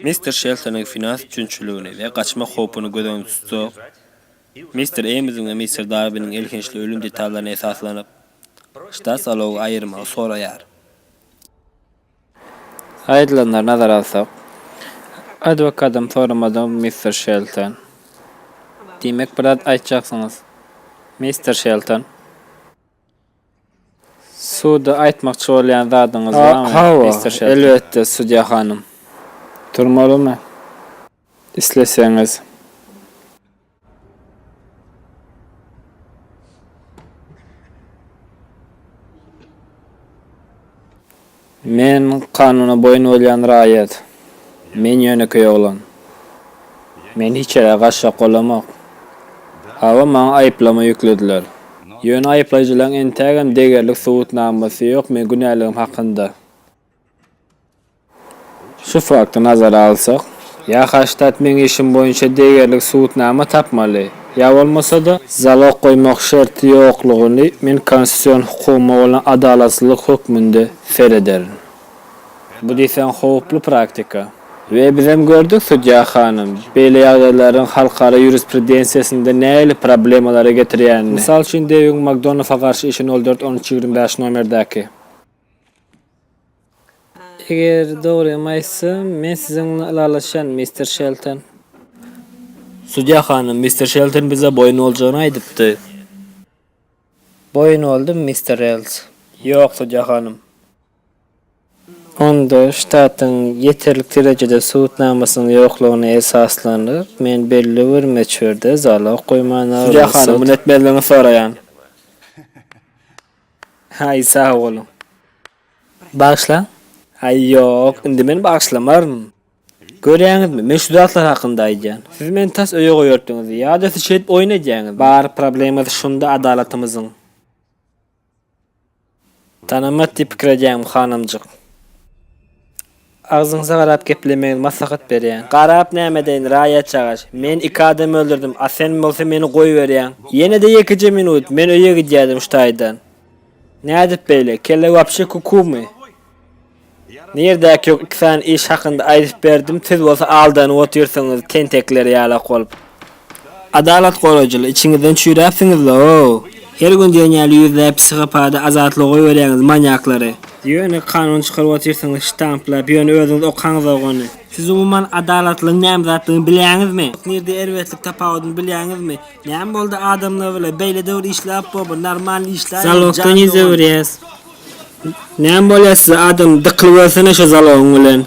Mister Şeltonyň finans çünçüligini we gaçmak howpuny göz öňünde tutsak, Mister Eýmsiň we Mister Darwiniň elhençli ölüm detallaryna esaslanyp, ştat zalogy aýyrmagy soraýar. Aýdylanlary nazara alsak, adwokadam soramadyňyz, mister Şelton. Diýmek, bir zat aýtjaksyňyz, mister Şelton? Suda aýtmakçy bolýan zadyňyz barmy, mister Şelton? Hawa, elbetde, sudýa hanym. Turmalymy? Isleseňiz. Men kanuna boýun bolýan raýat. Men ýönekeý oglan. Men hiç ýere gaçjak bolamok. Hawa, maňa aýyplama ýüklediler. Ýöne aýyplaýjylaryň entägem degerli subutnamasy ýok meň günäligim hakynda. Şu fakty nazara alsak, ýa Haştat meň işim boýunça degerli subutnama tapmaly, ýa bolmasa-da, zalog goýmak şerti ýoklugyny men konstitusion hukugyma bolan adalatsyzlyk hökmünde serederin. Bu diýseň howply praktika. We bizem gördük, sudýa hanym, beýle ýagdaýlaryň halkara ýurisprudensiýasynda nähili problemalara getirýänini. Mysal üçin, Dewiň Makdonafa garşy işi nol dört on üç ýigrimi bäş nomerdäki. Eger dogrymy aýtsam, men siziň bilen ylalaşýan, mister Şelton. Sudýa hanym, mister Şelton bize boýun boljagyny aýdypdy. Boýun boldum, mister Rels. Ýok, sudýa hanym. Onda ştatyň ýeterlik derejede subutnamasynyň ýoklugyna esaslanyp, men belli bir möçberde zalag goýman alynsak. Sudýa hanym, muny etmezligiňizi soraýan. Haý sag boluň. Bagyşlaň. Haý ýok, indi men bagyşlamaryn. Görýäňizmi, men şu zatlar hakynda aýdýan. Siz meni tas öýe goýardyňyz, ýa-da siz şeýdip oýun edýäňizmi? Bar problemasy şunda adalatymyzyň. Tanamat diýip pikir edýäňmi, hanymjyk? Agzyňyzy garap geplemegiňizi maslahat berýän. Garap näme edeýin, raýat çagaş. Men iki adam öldürdim, a sen bolsa meni goýberýäň. Ýene-de ýekeje minut, men öýe gidýärdim şu taýdan. Nädip beýle, kelle wapşe kukumy? Nirdäki ýok iki sany iş hakynda aýdyp berdim, siz bolsa aldanyp otyrsyňyz tentekler ýalak bolup. Adalat goraýjylar içiňizden çüýräpsiňizle ow. Her gün diýen ýaly ýüzläp psihopata azatlygy goýberýäňiz manýaklary. Ýöne kanun çykaryp otyrsyňyz ştamplap ýöne özüňiz okaňzok ony. Siz umuman adalatlygyň näme zatdygyny bilýäňizmi? Nirde erbetlik tapawudyny bilýäňizmi? Näme boldy adamlar bile beýle döwür işläp bormy normalny işläýmedi jan dogan. Zalogdan ýüz öwürýäs. Näme bolýar size adam dykly görsene şo zalogyň bilen.